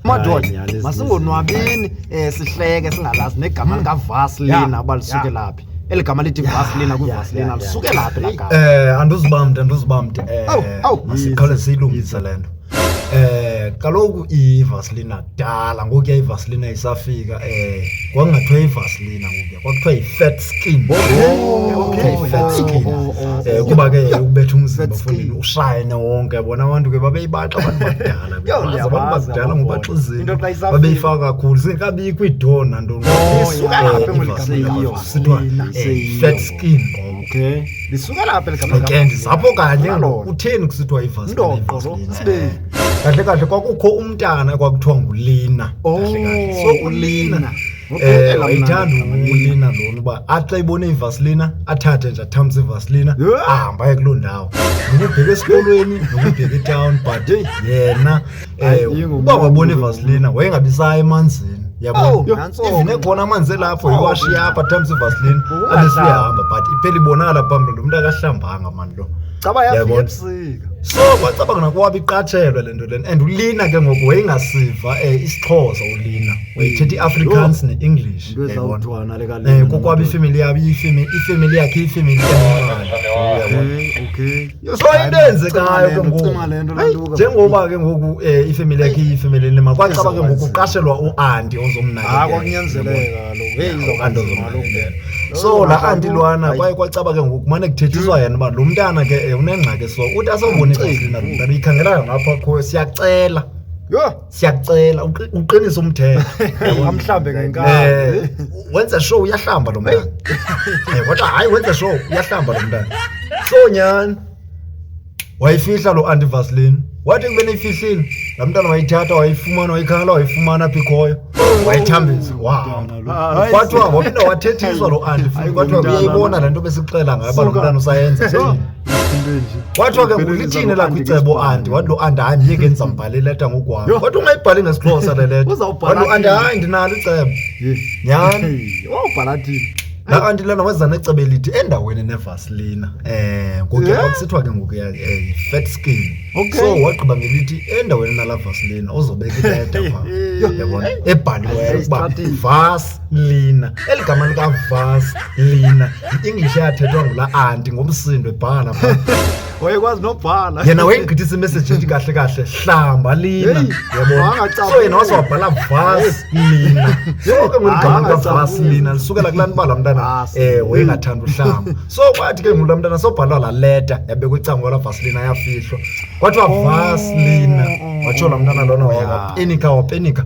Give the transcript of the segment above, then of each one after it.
madoda masingonwabini um sihleke singalazi negama hmm. lingavasilina uba lisuke laphi eli gama lithi vasilina kwivasilina lisuke laphi la gama um anduzibamde anduzibamde um masikhawule siyilungise le nto Eh kaloku iVaseline kudala ngokuya iVaseline isafika eh kwangathiwa iVaseline ngokuya kwakuthiwa yi-fat skin Okay, yi-fat skin Oh, oh, Eh, kuba ke ubetha umzimba Fat skin. fondini ushayine wonke bona abantu ke babeyibaxa abantu bakudala Yho, bebazi abantu ndiyabazi bakudala abo ngobaxa bona. Into xa izinto isafika. babeyifaka kakhulu zingekabikho iidona ntoni lisuka lapha Eh, kweli ivaseline, gama ivaseline, kusithiwa, eh, ivaseline. fat skin okay lisuka lapha eli gama ke ndizapho kanye Nalona. ngoku kutheni kusithiwa ivaseline Ndoqo, lo, ivaseline, sibe. eh. kahle kahle kwakukho umntana ekwakuthiwa ngulina Oh, Kahle kahle. so ulina ulina. Eh, ayithandi ukulina lona uba athi xa ibona ivasilina athathe nje athambise ivasilina ahambe aye kuloo ndawo nokubheka esikolweni nokubheka etawuni but yena um uba wabona ivasilina wayengabisayo emanzini Oh, yabona even ekhona amanzi elapho oh, iwashi yapha times ivaseline oh, abe siyahamba but iphela ibonakala phambili lo muntu akahlambanga mani lo caba yabusika so kwacabanga nakuwaba iqatshelwe le nto lena and ulina ke ngoku wayengasiva um eh, isixhosa ulina ithetha i-afrikaans ne-english into ezawuthwana le kale um kokwaba ifemeli yabo ifemeli ifemeli yakhe ifemeli yamali okay okay so into eyenzekayo ke ngoku Cima le nto Hayi, lantuka. njengoba ke ngoku um ifemeli yakhe iyifemeli enema kwacaba ke ngoku uqashelwa uanti Ah, ozomnakekela kwakunyanzeleka kaloku. Heyi, Akho anti izawubanzima kaloku. ozomnakekela so laa anti lwana Hayi. kwaye kwacaba ke ngoku kumane kuthethiswa yena uba lo mntana ke um unengxaki so uthi asawubona Mcimbi. ivasilina lo mntana uyikhangelanga ngapha kho siyacela Yho, siyakucela uqi- uqinise umthetho Amhlambe ngenkabi. Eh, wenza show uyahlamba lo mntana Eh, kodwa hayi wenza show uyahlamba lo mntana show nyani wayifihla lo anti vaseline wathi kube niyifihlile la mntana wayithatha wayifumana wayikhala wayifumana apho ikhoyo wayithambisa wahamba Hayi, kwathiwa waphinda wathethiswa lo anti futhi kwathiwa ngumntana uyayibona le nto besixela ngayo uba lo Suka. mntana usayenza Suka. wathi wake lithini la kwicebo andi wathi lo andi hayi myeke ndizambhale ileta ngokwam wathi ungayibhali ngesixhosa le leta wathi lo andi hayi ndinalo icebo nyhani wawubhala thini nakanti lena weza necebo elithi endaweni nevasilina um eh, ngokuya eh? kwakusithiwa ke ngoku eh, fat skin so wagqiba ngelithi endaweni nala vasilina uzobeka ileta pha yabona ebhaliweyo ukuba vas lina eli gama likavas lina yi-english eyathethwa ngula anti ngomsindo ebhala pha wayekwazi nobhala yena wayengigqithisa imeseji ethi kahle kahle hlamba lina Heyi, yabona wangacaphuki. so yena wase wabhala vas lina yonke ngolu gama Hayi, likavas wangacaphuki. lina lisukela kulaa nibala mntana Vas, eh wayengathanda uhlamba so kwathi ke ngula mntana sobhalwa laa leta yabekwa icango la vas lina yafihlwa kwathiwa vas lina watsho laa mntana lona wapenika wapenika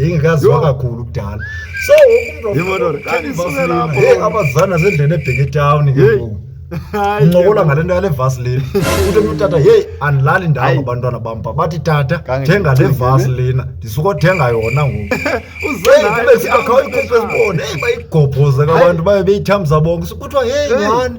yengekaziwa kakhulu kudala so wokumntuhe abazana zendlela ebheke etawuni ngoku ncokola ngale nto yale vasilina uthi omnye utata yeyi andilali ndawo ngabantwana bam pha bathi tata thenga le vasilina ndisuka othenga yona ngoku uzeakhawuyikhuphe ezibone eyi bayigobhoze kabantu babe beyithamza bonke kuthiwa yeyi nyhani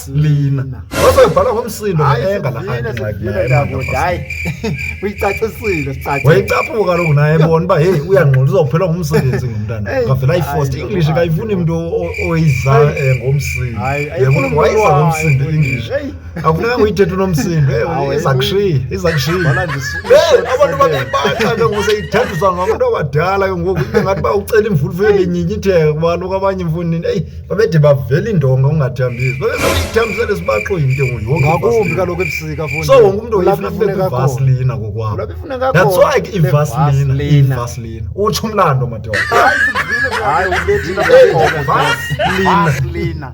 lina waze ubhala ngomsindo enga la hayi uyicacisile sicacisile wayicaphuka lo naye ebona uba hey uyangqola uzophela ngomsebenzi ngomntana ngavela i-first english kayifuni umuntu oyiza eh, ngomsindo wayeza ngomsindo english akunanga uyithetha unomsindo iza kushiya iza kushiya abantu babebaxa ke nguse ithathisa ngabantu abadala ke ngoku ingathi ba ucela imvulufeli nyinyitheka kubani kwabanye imfunini eyi babede bavela iindonga ungathambisi babebeyithambisele sibaxo yinto ngakumbi kaloku ebusika so wonke umntu uyafuna kubekho ivasilina kokwabo that's why ke ivasilina ivasilina utsho umlando madoda hayi ubethile vasilina